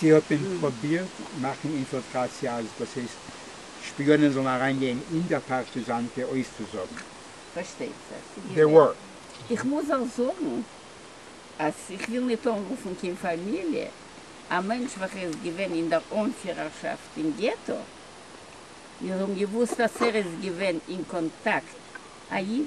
זי האט ווען פראבירט מאכן אינפילטראציע אז דאס הייסט שפיאנען זאלן אריינגיין אין דער פארטיזאנקע אויסצוזאגן? פארשטייט זיך ס'איז די ווארט. איך מוז אויך זאגן אז איך וויל ניט אנרופן קיין פאמיליע, א מענטש וועלכער איז געווען אין דער אנפירערשאפט אין געטא, מיר האבן געוואוסט אז ער איז געווען אין קאנטאקט א איד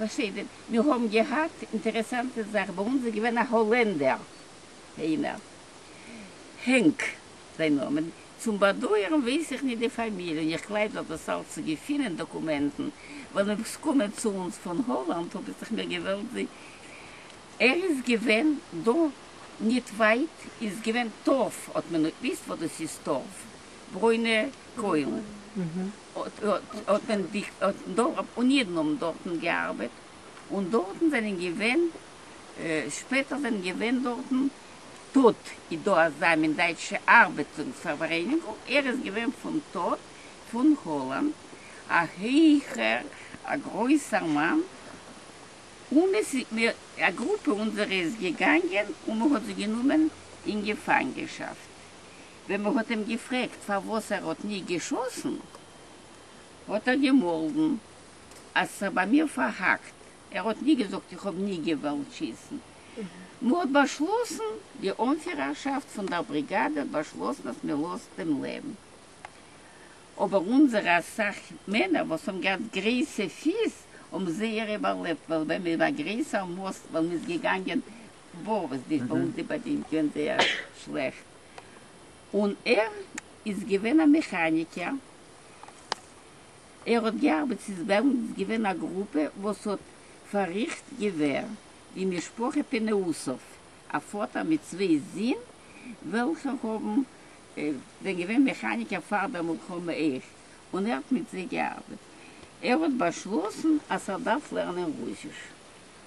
בסדר, מיר האבן געהאט אינטערעסאנטע זאך, ביי אונז איז געווען א האלענדער איינער, הענק זיין נאמען, צום באדויערן ווייס איך נישט די פאמיליע, און איך גלייב דאך דאס אלץ צו געפינען דאקומענטן, ווען אויב עס קומען צו אונז פון האלאנד האב איך זיך מיר געוועלט זי, ער איז געווען דא ניט ווייט איז געווען טארף, האט מען ניט געוויסט וואס דאס איז טארף, ברוינע קוילן. האט מען די דארט און אידן האבן דארטן געארבעט און דארטן זענען געווען שפעטער זענען געווען דארטן תות איז דא אזא מין דייטשע ארבעטונגס פארווערעניגונג ער איז געווען פון תות פון האלאנד א הייכער א גרויסער מאן און עס איז מיר א גרופע אונזערע איז געגאנגען און מען האט זיי גענומען אין געפאנגעשאפט ווען מען האט אים געפרעגט פארוואס ער האט נישט געשאסן, האט ער געמאלדן אז ס'איז זיך ביי מיר פארהאקט, ער האט נישט געזאגט איך האב נישט געוואלט שיסן, מען האט באשלאסן, די אנפירערשאפט פון דער בריגאדע האט באשלאסן אז מען לאזט אים לעבן, אבער אונזערע אסאך מענער וואס האבן געהאט גרייסע פיס האבן זייער איבערלעבט, ווייל ווען מען איז א גרייסער מאסט ווען מען איז געגאנגען בור וואס די סעודי באדינט געווען זייער שלעכט, און ער איז געווען א מעכאניקער, ער האט געארבעט ס'איז דעמאלטס געווען א גרופע וואס האט פארריכט געווער, די משפחה פינעאוסוב, א פאטער מיט צוויי זין וועלכע האבן זענען געווען מעכאניקער פאר דער מלחמה אויך, און ער האט מיט זיי געארבעט, ער האט באשלאסן אז ער דארף לערנען רוסיש,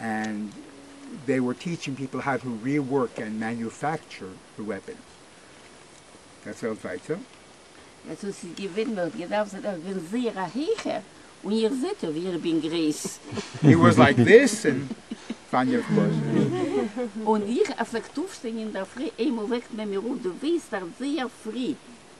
ענד זיי ווער טיטשינג פיפל האו טו ריווארק ענד מעניופעקטשור די וועפענס. דערציילט ווייטער. עס האט זיך געווען מען האט געדארפט זיין איך בין זייער א הייכער און איר זעט אויף ווי איך בין גרייס. הי וואס לייק דיס און פאנג איך בלויז אן. און איך עס וועקט אויפשטיין אינדערפרי איינמאל וועקט מען מיר אויף דו וועסט דארט זייער פרי.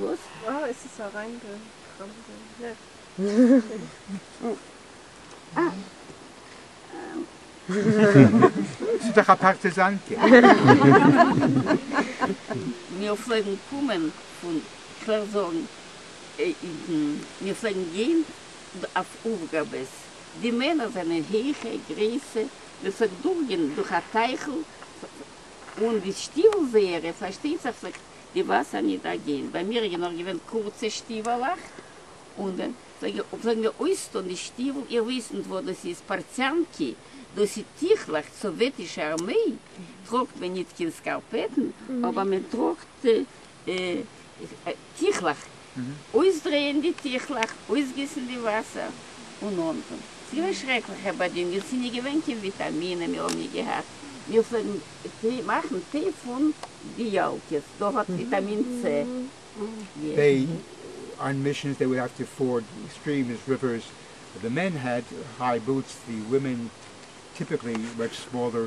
וואס? אה עס איז אריין די ס'איז דאך א פארטיזאנקע. מיר פלעגן קומען פון, כ'וועל זאגן, אידן, מיר פלעגן גיין אויף אויפגאבעס, די מענער זענען הייכע, גרויסע, מען פלעגט דורכגיין דורך א טייכל, און די שטיוול זייערע, פארשטייט זיך, פלעגט די וואסער ניט דערגען, ביי מיר איז נאך געווען קורצע שטיוועלעך, און ווען פלעגן מיר אויסטאן די שטיוול, איר ווייסט ניט וואס דאס איז, פארציאנקי, דאס איז טיכלעך, סאוועטישע ארמעי טראגט מען ניט קיין סקארפעטן, אבער מען טראגט טיכלעך, אויסדרייען די טיכלעך, אויסגיסן די וואסער און אנטון. ס'איז געווען שרעקליכע באדינגען, מיר זענען געווען קיין וויטאמינען מיר האבן נישט געהאט, מיר פלעגן מאכן טיי פון די יאלקעס, דא האט וויטאמין צ די. אן מישענס דעי וואלד האוו טו פארד סטריעמס ריווערס, די מען האט היי בוטס די ווימען טיפיקלי מאטש סמאלער.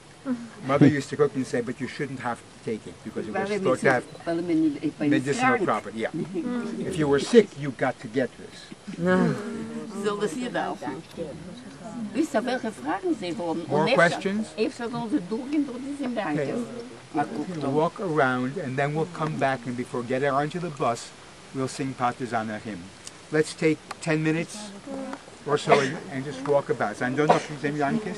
מאדער יוזט טו קוק און סעי באט יו שודענט האוו טו טעיק איט ביקאוס יו ווער סטארט טו האוו מעדיסינעל פראפערט יא איף יו ווער סיק יו גאט טו געט דיס. זאל דאס איר דארפן וויסן וועלכע פראגן זיי האבן און אפשר זאלן זיי דורכגיין דורך די סימבאטעס. וואק אראונד ענד דען וויל קאם בעק ענד ביפאר געט אראן טו די באס וויל סינג פארטיזאנער הים לעטס טעיק טען מינוטס אר סאו ענד דזשאסט וואק אבאוט זענען דא נאך זעם יאנקיס?